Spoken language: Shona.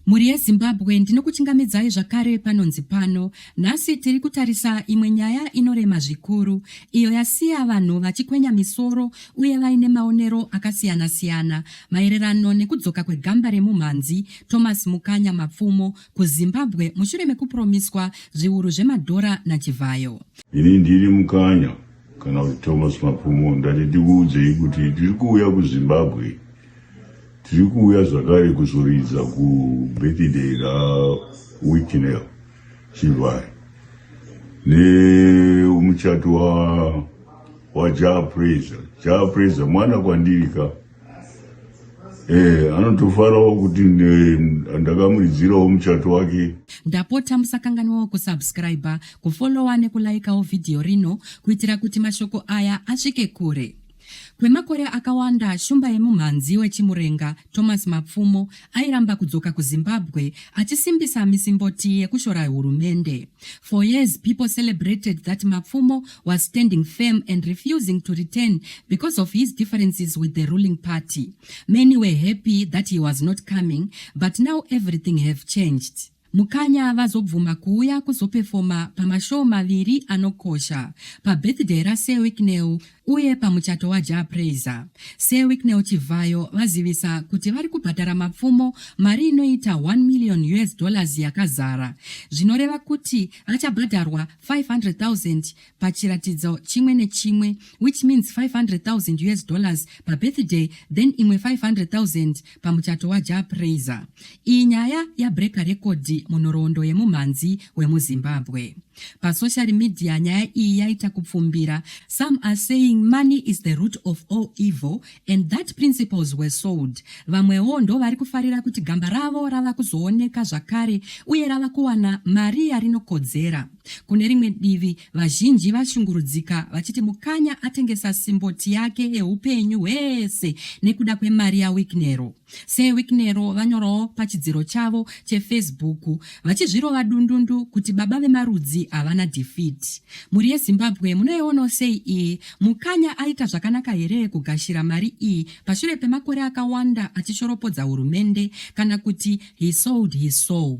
Mhuri yeZimbabwe ndinokuchingamidzai zvakare panonzi pano. Nhasi tiri kutarisa imwe nyaya inorema zvikuru iyo yasiya vanhu vachikwenya misoro uye vaine maonero akasiyana-siyana maererano nekudzoka kwegamba remumhanzi Thomas Mukanya Mapfumo kuZimbabwe mushure mekupuromiswa zviuru zvemadhora naChivhayo. Ini ndiri Mukanya kana kuti Thomas Mapfumo ndati tikuudzei kuti tiri kuuya kuZimbabwe Tiri kuuya zvakare kuzoridza kubirthday raWhitnel Chivhare nemuchato waJah Praiser. Jah Praiser mwana kwandiri ka Eh, anotofarawo kuti ndakamuridzirawo muchato wake ndapota musakanganwawo kusubscriber kufollowa nekulaikawo vhidhiyo rino kuitira kuti mashoko aya asvike kure Kwemakore akawanda, shumba yemumhanzi weChimurenga, Thomas Mapfumo, airamba kudzoka kuZimbabwe achisimbisa misimboti yekushora hurumende. For years, people celebrated that Mapfumo was standing firm and refusing to return because of his differences with the ruling party. Many were happy that he was not coming, but now everything have changed. Mukanya vazobvuma kuuya kuzopefoma pamashoo maviri anokosha pabirthday raSir Wicknell uye pamuchato waJah Prayzah. Sir Wicknell Chivhayo vazivisa kuti vari kubhadhara mapfumo mari inoita 1 million us dollars yakazara zvinoreva kuti vachabhadharwa 500,000 pachiratidzo chimwe nechimwe which means 500,000 us dollars pabirthday then imwe 500,000 pamuchato waja praiser iyi nyaya yabreaker rekodhi munhoroondo yemumhanzi wemuzimbabwe pasocial media nyaya iyi yaita kupfumbira some are saying money is the root of all evil and that principles were sold vamwewo ndo vari kufarira kuti gamba ravo rava kuzooneka zvakare uye rava kuwana mari yarinokodzera Kune rimwe divi, vazhinji vashungurudzika vachiti Mukanya atengesa simboti yake yeupenyu hwese nekuda kwemari yaWicknero. SeWicknero vanyorawo pachidziro chavo cheFacebook vachizvirova dundundu kuti baba vemarudzi havana defeat. Mhuri yeZimbabwe munoionawo sei iyi? Mukanya aita zvakanaka here kugashira mari iyi pashure pemakore akawanda achishoropodza hurumende kana kuti he sold his soul?